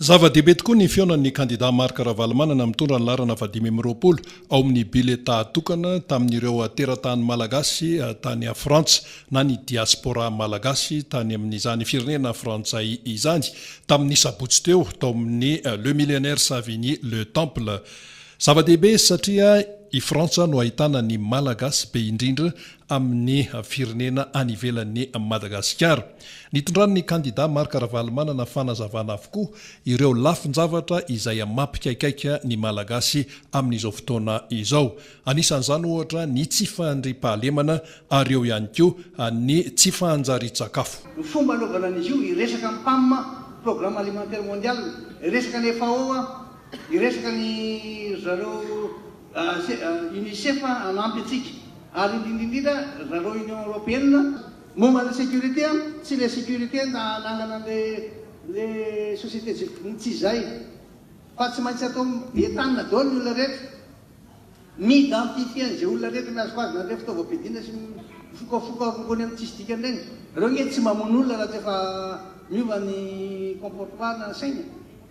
Zava-dehibe tokoa ny fihaonan'ny kandidà Marc Ravalomanana mitondra ny laharana fahadimy amby roapolo ao amin'ny biletà tokana tamin'ireo teratany malagasy tany Frantsa na ny diaspora malagasy tany amin'izany firenena frantsay izany tamin'ny sabotsy teo tao amin'ny Le Millionnaires Savigny Le Temple. Zava-dehibe satria i Frantsa no ahitana ny malagasy be indrindra amin'ny firenena any ivelan'i Madagasikara. Nitondran'ny kandida Marc Ravalomanana fanazavana avokoa ireo lafin-javatra izay mampikaikaika ny Malagasy amin'izao fotoana izao. Anisan'izany ohatra ny tsy fandriampahalemana ary eo ihany koa ny tsy fahanjarian-tsakafo. Ny fomba anaovana an'izy io, hiresaka amin'ny pam, Programme Alimentaire Mondial, hiresaka ny FAO, hiresaka ny ry zareo Unicef hanampy antsika. Ary indrindra indrindra zareo Union Européenne momba ny sécurité an, tsy le sécurité na ananana le le société civile tsy izay fa tsy maintsy atao be tanana daholo ny olona rehetra, mi-identifier an'izay olona rehetra miazoko azy na le fitaovam-piadiana sy mifokafoka rongony amin'ny tsisy dikany ireny. Ireo nge tsy mamono olona raha tsy efa miova ny comportement na saina.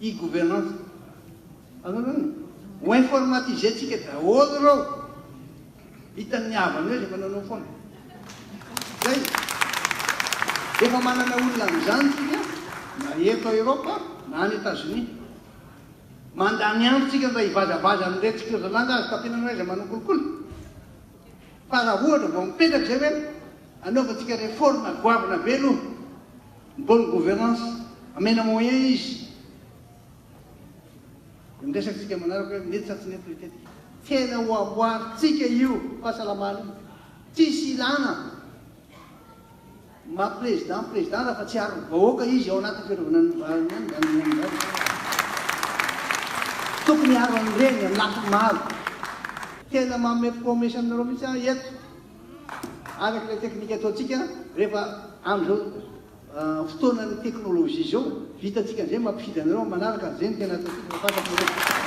E-gouvernance. Azonao izany e? Ho informatiser-tsika daholo ireo. Hitan'ny havany hoe rehefa nanao foana. Izay. Efa manana olona amin'izany isika na eto Eropa na any Etazonia. Mandany andro isika mba hivazavaza amin'iretsy kirzalanda azo tafiana amin'ireo izay manao kolikoly. Fa raha ohatra vao mipetraka izay hoe anaovantsika réforme goavana be aloha. Bonne gouvernance, amena moyen izy. Dia miresaka isika manaraka hoe mety sa tsy mety ny tetika. Tena ho amboarintsika io fahasalamana io. Tsisy ilana maha président ny président raha fa tsy aron'ny vahoaka izy ao anatin'ny fiarovana ny vahoaka. Tokony hiaro an'ireny amin'ny lafiny maro. Tena manome promesse aminareo mihitsy aho eto. Araka ilay teknika ataontsika rehefa amin'izao fotoanan'ny teknolojia izao, vitantsika an'izay mampifidy anareo amin'ny manaraka ary izay no tena ataontsika fa fantatrareo.